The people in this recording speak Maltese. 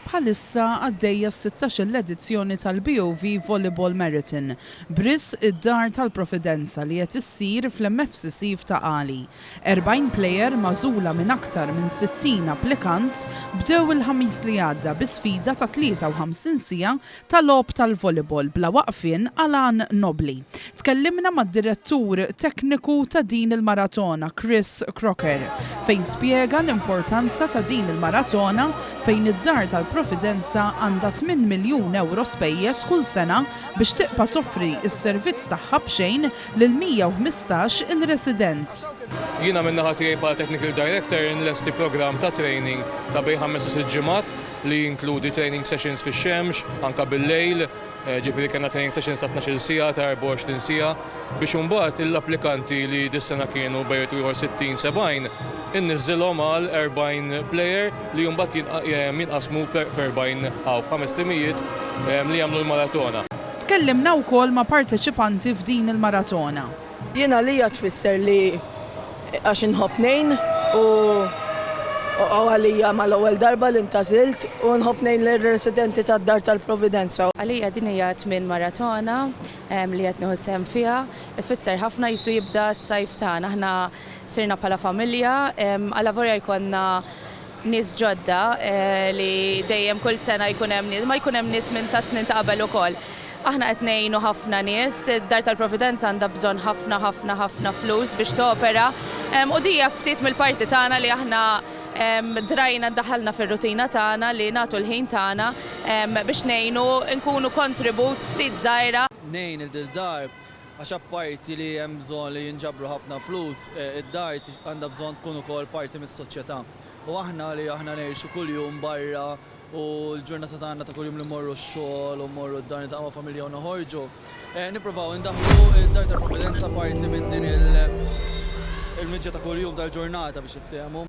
Bħalissa għaddejja s-sittax-il edizzjoni tal-BOV Volleyball Marathon, b'riżq id-Dar tal-Providenza li qed issir fl-MFCC f'Ta' Qali. Erbgħin plejer magħżula minn aktar minn sittin applikant bdew il-Ħamis li għadda bi sfida ta' 53 siegħa ta' logħob tal-volleyball bla waqfien għal għan nobbli. Tkellimna mad-direttur tekniku ta' din il-maratona Chris Crocker fejn spjega l-importanza ta' din il-maratona fejn id-Dar tal-Providenza għandha tmien miljun ewro spejjeż kull sena biex tiqpa' toffri s-servizz tagħha b'xejn lil 115 il resident. Jiena min-naħa tiegħi bħala Technical Director inlesti programm ta' training ta' bejn ħames u sitt ġimgħat li jinkludi training sessions fix-xemx, anke bil-lejl, ġifieri kellna training sessions ta' tnax-il siegħa, ta' 24 siegħa, biex imbagħad l-applikanti li dis-sena kienu bejn wieħed u ieħor 60, 70, inniżżilhom għal 40 plejer li mbagħad jinqasmu f'erbgħin għawm, f'ħames timijiet li jagħmlu l-maratona. Tkellimna wkoll ma' parteċipanti f'din il-maratona. Jien għalija tfisser li għax inħobb ngħin u għalija mal-ewwel darba li ntagħżilt u nħobb ngħin lir-residenti tad-Dar tal-Providenza. Għalija din hija t-tmien maratona li qed nieħu sehem fiha. Ifisser ħafna qisu jibda s-sajf tagħna. Aħna sirna bħala familja. Alla vorja jkollna nies ġodda li dejjem kull sena jkun hemm nies, ma jkun hemm nies minn tas-snin ta' qabel ukoll. Aħna qed ngħinu ħafna nies, id-Dar tal-Providenza għandha bżonn ħafna ħafna ħafna flus biex topera u din hija ftit mill-parti tagħna li aħna drajna ddaħħalna fir-rutina tagħna li nagħtu l-ħin tagħna biex ngħinu nkunu kontribut ftit żgħira, ngħin il-Dar Għax apparti li hemm bżonn li jinġabru ħafna flus, id-dar għandha bżonn tkun ukoll parti mis-soċjetà. U aħna li aħna ngħixu kuljum barra u l-ġurnata tagħna ta' kuljum li mmorru x-xogħol u mmorru d-dar niltaqgħu ma' familja u noħorġu, nippruvaw indaħħlu d-dar tal-Provvidenza parti minn din il-miġja ta' kuljum tal-ġurnata biex niftehmu.